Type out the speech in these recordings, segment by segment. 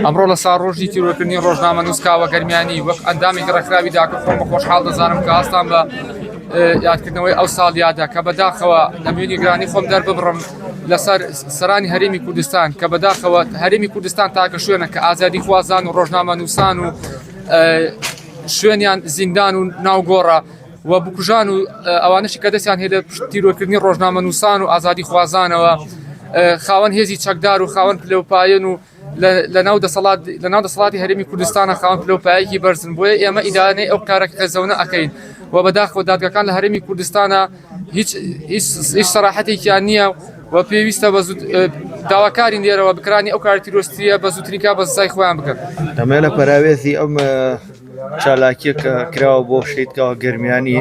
ئەمڕۆ لە سار ڕۆژی تیرۆکردنی ڕۆژنامە نووسکاوە گەرمیانی وەک ئەندامی گەڕکراوی داکە خۆم بە خۆشحاڵ دەزانم کە ئاستان بە یادکردنەوەی ئەو ساڵ یادە کە بەداخەوە نەمێنی گرانی خۆم دەرببڕم لەسەر سەرانی هەرمی کوردستان کە بەداخەوە هەرمی کوردستان تاکە شوێنە کە ئازادی خوازان و ڕۆژنامە نووسان و شوێنیان زیندان و ناوگۆڕە و بکوژان و ئەوانەشی کە دەستیان هەیە لە پشت تیرۆرکردنی ڕۆژنامەنووسان و ئازادیخوازانەوە خاوەن هێزی چەکدار و خاوەن پلەوپایەن و لەناو دەسەڵات لەناو دەسەڵاتی هەرێمی کوردستانە خاوەن پلەوپایەکی بەرزن بۆیە ئێمە ئیدانەی ئەو کارە قێزەونە ئەکەین و بەداخەوە دادگەکان لە هەرێمی کوردستانە هیچ هیچ سەراحەتێکیان نییە و پێویستە بە داواکاری لێرەوە بکرانی ئەو کار تیرۆستیە بە زووتریکا بە سزای خۆیان بکەن ئەمە لە پەراوێزی ئەم چالاکیەکە کراوە بۆ شەیدکاوە گەرمیانی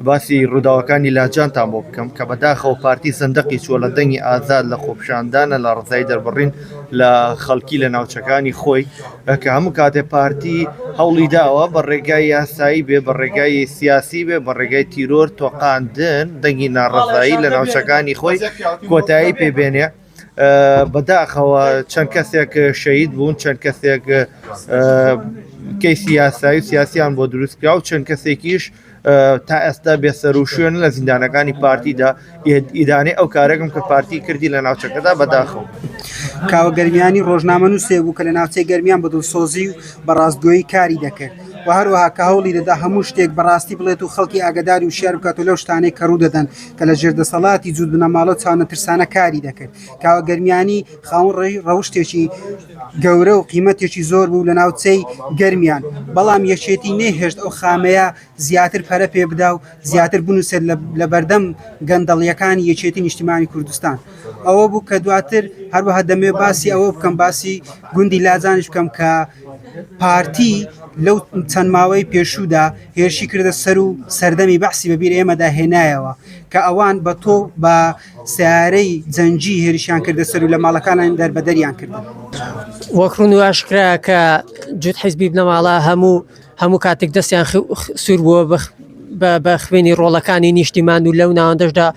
باسی ڕووداوەکانی لاجانتان بۆ بکەم کە بەداخەوە پارتی سندقی چوە لە دەنگی ئازاد لە خۆپشاندانە لە ڕزای دەربڕین لە خەڵکی لە ناوچەکانی خۆی کە هەموو کاتێ پارتی هەوڵی داوە بە ڕێگای یاسایی بێ بە ڕێگای سیاسی بێ بە ڕێگای تیرۆر تۆقااندن دەنگی ناڕزایی لە ناوچەکانی خۆی کۆتایی پێبێنێ. بەداخەوە چەند کەسێک شەید بوون چەند کەسێک کەیسی یاسایی و سیاسیان بۆ دروستکرا و چەند کەسێکیش تا ئێستا بێسەر و شوێن لە زیندانەکانی پارتیدا ئیدانەی ئەو کارێکم کە پارتی کردی لە ناوچەکەدا بەداخەوە کاوە گەرمیانی ڕۆژنامە نووسێ بوو کە لە ناوچەی گەرمیان بە دڵسۆزی و بە ڕاستگۆیی کاری دەکرد و هەروەها کە هەوڵی دەدا هەموو شتێک بەڕاستی بڵێت و خەڵکی ئاگداری و شار بکات و لەو شتانەی کە ڕوو دەدەن کە لە ژێر دەسەڵاتی جووت بنەماڵە و چاونە ترسانە کاری دەکرد کاوە گەرمیانی خاون ڕێی ڕەوشتێکی گەورە و قیمەتێکی زۆر بوو لە ناوچەی گەرمیان بەڵام یەکێتی نەهێشت ئەو خامەیە زیاتر پەرە پێ بدا و زیاتر بنووسێت لە بەردەم گەندەڵیەکانی یەکێتی نیشتیمانی کوردستان ئەوە بوو کە دواتر هەروەها دەمێ باسی ئەوە بکەم باسی گوندی لاجانش بکەم کە پارتی لەو چەند ماوەی پێشوودا هێرشی کردە سەر و سەردەمی بەحسی بەبیر ئێمەدا هێنایەوە کە ئەوان بە تۆ بە سیارەی جەنجی هێرشیان کردە سەر و لە ماڵەکانیان دەربەدەریان کرد وەک ڕون و ئاشکرا کە جوت حیزبی بنەماڵە هەموو هەموو کاتێک دەستیان سوور بووە بە خوێنی ڕۆڵەکانی نیشتیمان و لەو ناوەندەشدا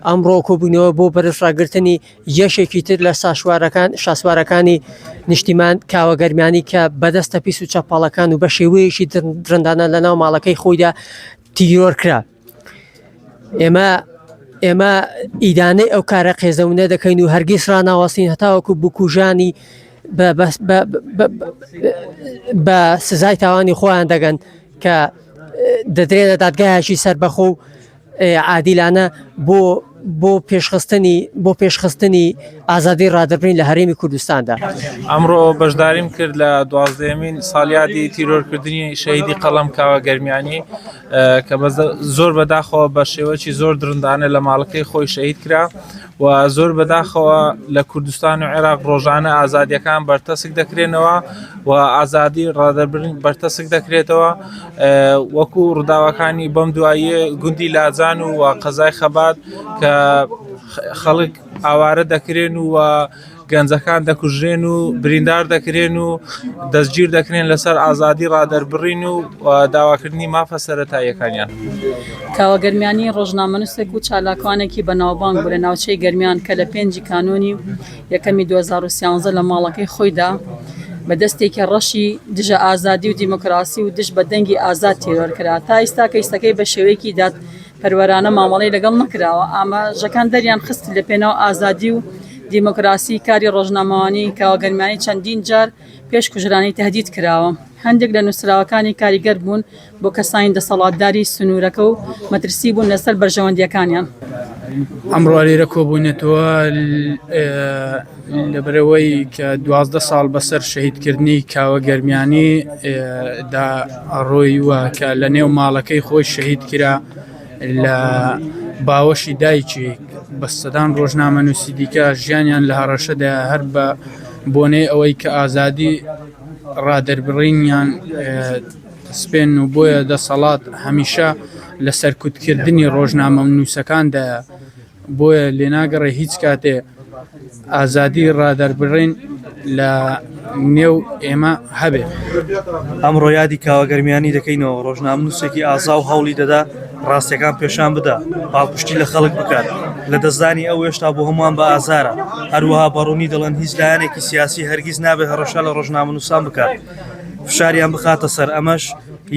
ئەمڕۆ کۆبوونەوە بۆ بەرز ڕاگررتنی جێشێکی تر لە ساشوارەکان شاسوارەکانی نیشتیمان کاوە گەرمیانی کە بەدەستە پیس و چەپەڵەکان و بە شێوەیەکی درندانە لە ناو ماڵەکەی خۆیدا تیرۆر کرا ئێمە ئێمە ئیدانەی ئەو کارە قێزەونە دەکەین و هەرگیز ڕناوەستین هەتاوەکو بکوژانی بە سزای تاوانی خۆیان دەگەن کە دەدرێنە دادگایەکی سربەخۆ و عادیلانە بۆ بۆ پێشخستنی بۆ پێشخستنی ئازادی ڕادەبین لە هەرێمی کوردستاندا ئەمڕۆ بەشداریم کرد لە دوازدەمین سالیادی تیرۆرکردنی شەیدی قەڵم کاوە گەرمیانی کە بە زۆر بەداخەوە بە شێوەی زۆر درندانە لە ماڵەکەی خۆی شەید کرا و زۆر بەداخەوە لە کوردستان و عێراق ڕۆژانە ئازادیەکان بەرتەسک دەکرێنەوە و ئازادی ڕادەبرین بەرتەسک دەکرێتەوە وەکو ڕداوەکانی بەم دواییە گوندی لاجان و قەزای خەبات کە خەڵک ئاوارە دەکرێن و گەنجەکان دەکوژرێن و بریندار دەکرێن و دەستگیر دەکرێن لەسەر ئازادی ڕادەربڕین و داواکردنی مافە سەتاییەکانیان کاوە گەرمیانی ڕۆژنامەنووسێک و چالاکوانێکی بەناوبانگ بوو لە ناوچەی گەرمیان کە لە پێنجی کانۆنی یەکەمی 2013 لە ماڵەکەی خۆیدا بە دەستێکی ڕەشی دژە ئازادی و دیموکراسی و دژ بە دەنگی ئازاد تیرۆر کرا تا ئیستا کەیسەکەی بە شێوەیەکی داد پەروەرانە مامەڵەی لەگەڵ نەکراوە، ئاماژەکان دەریان خست لە پێناو ئازادی و دیموکراسی کاری ڕۆژنامەوانی کاوە گەرمیانی چەندین جار پێش کوژرانی تەهدید کراوە، هەندێک لە نوسراوەکانی کاریگەر بوون بۆ کەسانی دەسەڵاتداری سنورەکە و مەترسی بوون لەسەر بەرژەوەندیەکانیان. ئەمڕۆ لێرە کۆبووینەتەوە. لەبەرئەوەی کە دوازدە ساڵ بەسەر شەهیدکردنی کاوە گەرمیانی دا ڕۆی وە کە لە نێو ماڵەکەی خۆی شەهید کرا لە باوەشی دایکی بە سەدان ڕۆژنامە نووسی دیکە ژیانیان لە هەڕەشەدا هەر بە بۆنەی ئەوەی کە ئازادی ڕادەربڕینیان سپێن و بۆیە دەسەڵات هەمیشە لە سەرکوتکردنی ڕۆژنامە و نووسەکاندا بۆیە لێناگەڕێ هیچ کاتێ ئازادی ڕادەربڕین لە نێو ئێمە هەبێ. ئەمڕۆ یادی کاوە گەرمیانی دەکەینەوە، ڕۆژنامەنووسێکی ئازا و هەوڵی دەدا ڕاستییەکان پێشان بدا، پاڵپشتی لە خەڵک بکات. لەدەستدانی ئەو هێشتا بۆ هەمووان بە ئازارە. هەروەها بە ڕوونی دەڵێن هیچ لایەنێکی سیاسی هەرگیز نابێت هەڕەشە لە ڕۆژنامەنووسان بکات، فشاریان بخاتە سەر، ئەمەش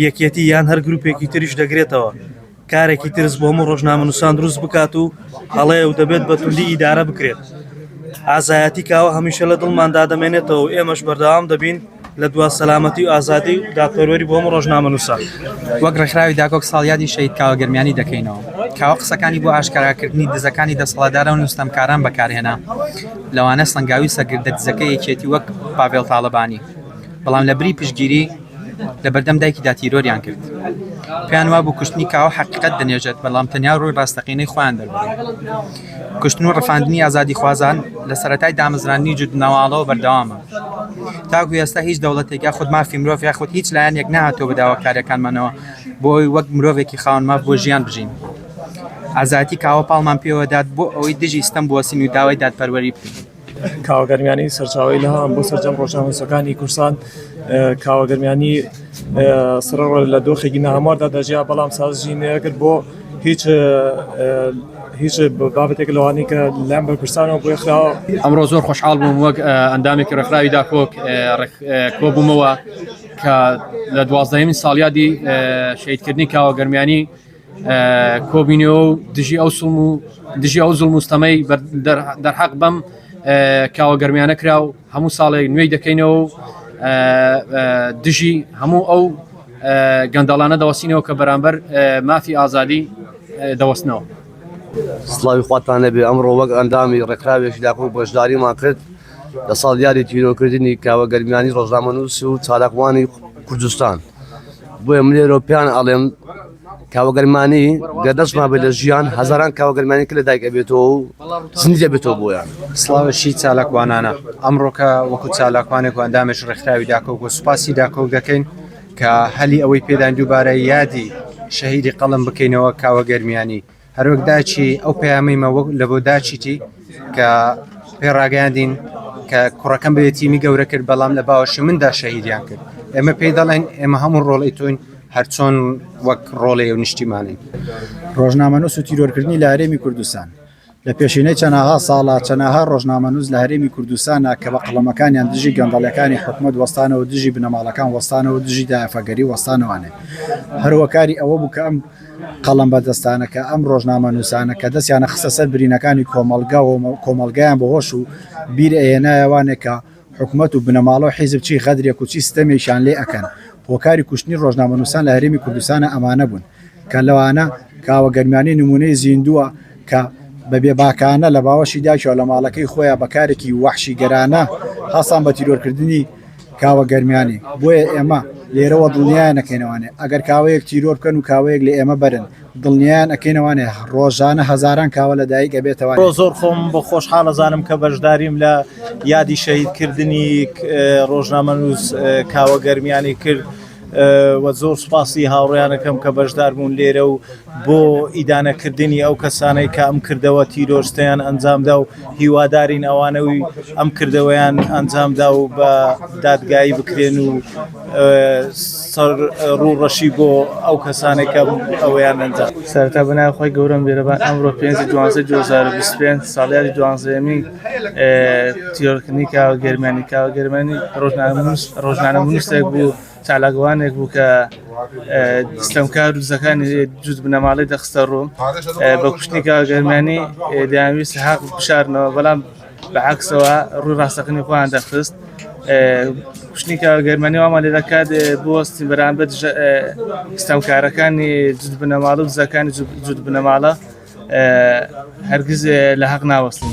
یەکێتی یان هەر گرووپێکی تریش دەگرێتەوە. کارێکی ترس بۆ هەموو ڕۆژنامەنووسان دروست بکات و هەڵەیە و دەبێت بە توندی ئیدارە بکرێت ئازایەتی کاوە هەمیشە لە دڵمان دادەمێنێتەوە و ئێمەش بەردەوام دەبین لە دوا سەلامەتی و ئازادی و دادپەروەری بۆ هەموو ڕۆژنامەنووسان وەک ڕێکخراوی داکۆک ساڵیادی شەهید کاوە گەرمیانی دەکەینەوە کاوە قسەکانی بۆ ئاشکاراکردنی دزەکانی دەسەڵاتدارە و نوستەمکاران بەکارهێنا لەوانە سەنگاوی سەرکردە دزەکە یەکێتی وەک پاڤێڵ تاڵەبانی بەڵام لە بری پشتگیری لەبەردەم دایکیدا تیرۆریان کرد. پێیان وابوو کوشتنی کاوە حەقیقەت دەنێژێت، بەڵام تەنیا ڕووی ڕاستەقینەی خۆیان دەربڕی. کوشتن و ڕفاندنی ئازادیخوازان لە سەرەتای دامەزراندنی جووتبنەواڵەوە بەردەوامە. تاکو ئێستا هیچ دەوڵەتێک یاخود مافی مرۆڤ یاخود هیچ لایەنێک نەهاتووە بە داواکارییەکانمانەوە بۆ ئەوەی وەک مرۆڤێکی خاوەن ماف بۆ ژیان بژین. ئازایەتی کاوە پاڵمان پێوە دات بۆ ئەوەی دژی ستەم بوەستین و داوای دادپەروەری بکەین. کاوە گەرمیانی سەرچاوەی لە هەم بۆ سەرجەم ڕۆژنامەنووسەکانی کوردستان کاوە گەرمیانی سڕ لە دۆخێکی ناهەمواردا دەژیا بەڵام سازژی نەکرد بۆ هیچ هیچ بابەتێک لەوانی کە لەم بە کوردستانەوە بۆی خراوە ئەمڕۆ زۆر خۆشحاڵ بووم وەک ئەندامێکی ڕێکخراوی داکۆک کۆبوومەوە کە لە دوازدەمین ساڵیادی شیدکردنی کاوە گەرمیانی کۆبینەوە و دژی ئەو سڵم و دژی ئەو زڵ مستەمەی دەرحەق بەم کاوە گەرمیانە کرا و هەموو ساڵێک نوێی دەکەینەوە و دژی هەموو ئەو گەندەڵانە دەوەستینەوە کە بەرامبەر مافی ئازادی دەوەستنەوە سلاوی خواتان لەبێ ئەمڕۆ وەک ئەندامی ڕێکخراوێکی داکۆ بەشداریمان کرد لە ساڵ دیاری تیرۆکردنی کاوە گەرمیانی ڕۆژنامەنووس و چالاکوانی کوردستان بۆیە من لێرەوە پێیان ئەڵێم کاوەگەرمانی گە دەستما بێت لە ژیان هەزاران کاوەگەرمانی کە لە دایکە بێتەوە و سندە بێتەوە بۆیان سلااوشی چالاکوانانە ئەمڕۆکە وەکو چالاکوانێک ئەندامێش ڕێکخراوی داکۆک و سوپاسی داکۆک دەکەین کە هەلی ئەوەی پێدان دووبارە یادی شەهیدی قەڵم بکەینەوە کاوە گەرمیانی هەروەک داچی ئەو پەیامەیمە وەک لە بۆ داچیتی کە پێ ڕاگەیاندین کە کوڕەکەم بێ تیمی گەورە کرد بەڵام لە باوەشی مندا شەهیدیان کرد ئێمە پێی دەڵێن ئێمە هەموو ڕۆڵی تۆین هەرچۆن وەک ڕۆڵێ و نیشتیمانین ڕۆژنامەنووس و تیرۆرکردنی لە هەرێمی کوردستان لە پێشینەی چەناها ساڵا چەناها ڕۆژنامەنووس لە هەرێمی کوردستانە کە بە قەڵەمەکانیان دژی گەندەڵەکانی حکوومەت وەستانەوە دژی بنەماڵەکان وەستانەوە دژی دافەگەری وەستانەوانێ هەروەکاری ئەوە بوو کە ئەم قەڵەم بەدەستانەکە، ئەم ڕۆژنامەنووسانە کە دەستیانە خستە سەر برینەکانی کۆمەڵگا و کۆمەڵگایان بە هۆش و بیر ئەهێنایە وانێ کە حکومەت و بنەماڵە و حیزب چی غەدرێک و چی ستەمێکیان لێ ئەکەن. هۆکاری کوشتنی ڕۆژنامەنووسان لە هەرێمی کوردستانا ئەمانە بوون کە لەوانە کاوە گەرمیانی نموونەی زیندووە کە بە بێباکانە لە باوەشی داکیەوە لە ماڵەکەی خۆیا بە کارێکی وەحشیگەرانە هەستان بە تیرۆرکردنی کاوە گەرمیانی، بۆیە ئێمە لێرەوە دڵنیایان ئەکەینەوانێ ئەگەر کاوەیەک تیرۆر بکەن و کاوەیەک لە ئێمە بەرن دڵنیایان ئەکەینەوانێ ڕۆژانە هەزاران کاوە لە دایک ئەبێتەوانێ. بڕۆ زۆر خۆم بۆ خۆشحاڵ ئەزانم کە بەشداریم لە یادی شەهیدکردنی ڕۆژنامەنووس کاوە گەرمیانی کرد. وە زۆر سوپاسی هاوڕێیانەکەم کە بەشداربوون لێرە و بۆ ئیدانە کردنی ئەو کەسانەی کە ئەم کردەوە تیرۆرستەیان ئەنجامدا و هیوادارین ئەوانەوی ئەم کردەوەیان ئەنجامدا و بە دادگایی بکرێن و سەر ڕوو ڕەشی بۆ ئەو کەسانێکەم ئەویان ئەنجام سەرتا بەناوخوای گەورەم بێرەبان ئەمڕۆ پێنجی دوانزە دوزار بیست پێنج ساڵیادی دوانزەیەمین تیۆرکنیکا و گەرمانیکا و گەرمانی ڕۆژنانە منوسێک بوو چالاکوانێک بوو کە ستەمکار و دزەکانی جووت بنەماڵی دەخستە ڕوو بە کوشتنیکا گەرمانی دەیانویست حق بشارنەوە بەڵام بەعکسەوە ڕووی ڕاستەکەنی خۆیان دەخست کوشتنیکا گەرمانی وامان لێ دەکات بۆستی بەرامبەر ستەمکارەکانی جووت بنەماڵە و دزەکانی جووت بنەماڵە هەرگز لە هەق ناوەستن.